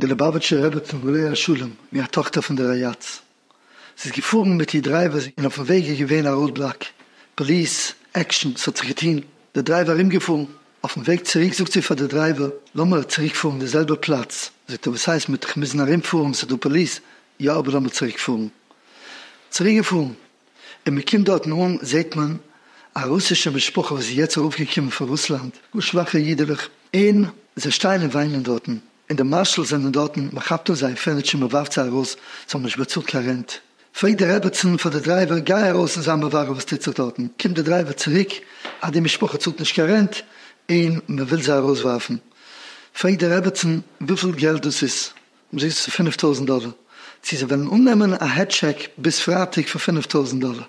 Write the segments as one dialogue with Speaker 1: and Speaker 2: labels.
Speaker 1: די ליובאוויטשער רעבעצין לאה שלום מ א טאכטער פון די ראיאטס זי איז געפארן מיט איר דרייווער אין אויפן וועג איז געווען א ראוד בלאק פאליס עקשאן ס'האט זיך געטוהן די דרייווער ארומגעפארן אויפן וועג צוריק זאגט זי פאר די דרייווער לאמער צוריק פארן די זעלבע פלאץ זאגט ער וואס הייסט מ'העט דאך מוזן ארומפארן ס'דא פאליס יא אבער לאמער צוריק פארן צוריק געפארן. ווען מען קומט דארטן אן זעט מען א רוסישע משפחה וואס איז יעצט ארויפגעקומען פון רוסלאנד, גאר שוואכע אידעלעך, און זיי שטייען און וויינען דארטן, און די מארשאלס זענען דארטן, מען כאפט אפ זייער פערניטשער מען ווארפט זיי ארויס, זיי האבן נישט באצאלט קיין רענט, פרעגט די רעבעצן פאר די דרייווער גיי ארויס און זיי מברר וואס טוט זיך דארטן, קומט די דרייווער צוריק אז די משפחה צאלט נישט קיין רענט און מען וויל זיי ארויסווארפן, פרעגט די רעבעצן וויפיל געלט דאס איז, זיי צו פֿינף טויזנט דאלער, צו זיי וועלן אננעמען א העד טשעק ביז פרייטאג פון פֿינף טויזנט דאלער,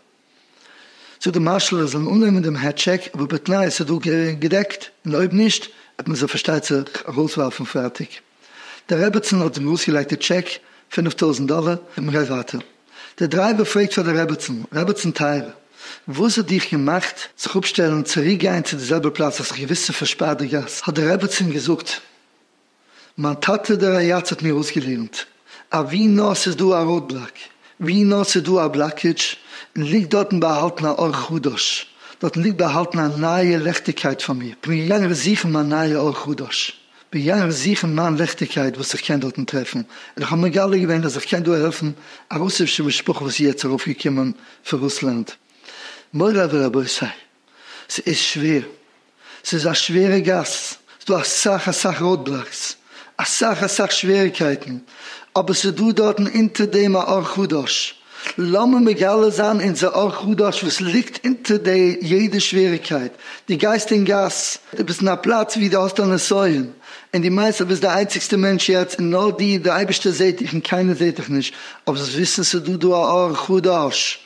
Speaker 1: זאגט די מארשאל אז זיי זאלן אננעמען דעם העד טשעק אבער בתנאי אז עס איז דא געדעקט און אויב נישט וועט מען זיי פארשטייט זיך ארויסווארפן פרייטאג, דער רעבעצן האט ארויסגעלייגט די טשעק פֿינף טויזנט דאלער און מען גייט ווייטער, דער דרייווער פרעגט פאר די רעבעצן, רעבעצן טייערע וואס האט דיך געמאכט זיך אפשטעלן צוריק גיין צו די זעלבע פלאץ האסט זיך געוויס צו פארשפארט די גאס, האט דער רעבעצן געזאגט מיין טאטע דער רייאץ האט מיר אויסגעלערנט אז ווי נאר ס'איז דא א ראוד בלאק, ווי נאר ס'איז דא א בלאקעדזש, ליגט דארטן באהאלטן א אור חדש, דארטן ליגט באהאלטן א נייע לעכטיגקייט פאר מיר, כ'בין געגאנגען זוכן מיין נייע אור חדש, כ'בין געגאנגען זוכן מיין לעכטיגקייט וואס איך קען דארטן טרעפן, און כ'האב מגלה געווען אז איך קען דא העלפן א רוסישע משפחה וואס איז יעצט ארויפגעקומען פון רוסלאנד. מוריי ורבותי! ס'איז שווער. ס'איז א שווערע גאס, ס'דא אסאך אסאך ראודבלאקס, אסאך אסאך שוועריגקייטן, אבער ס'דא דארטן אונטער דעם א אור חדש. לאמיר מגלה זיין אונזער אור חדש וואס ליגט אונטער די יעדע שוועריגקייט. דו גייסט אין גאס, דו ביסט אין א פלאץ ווי דו האסט א נסיון, און דו מיינסט אז ביסט די איינציגסטע מענטש יעצט, און נאר דיר, דער אייבערשטער זעט דיך און קיינער זעט דיך נישט, אבער זאלסט וויסן ס'דא דא א אור חדש.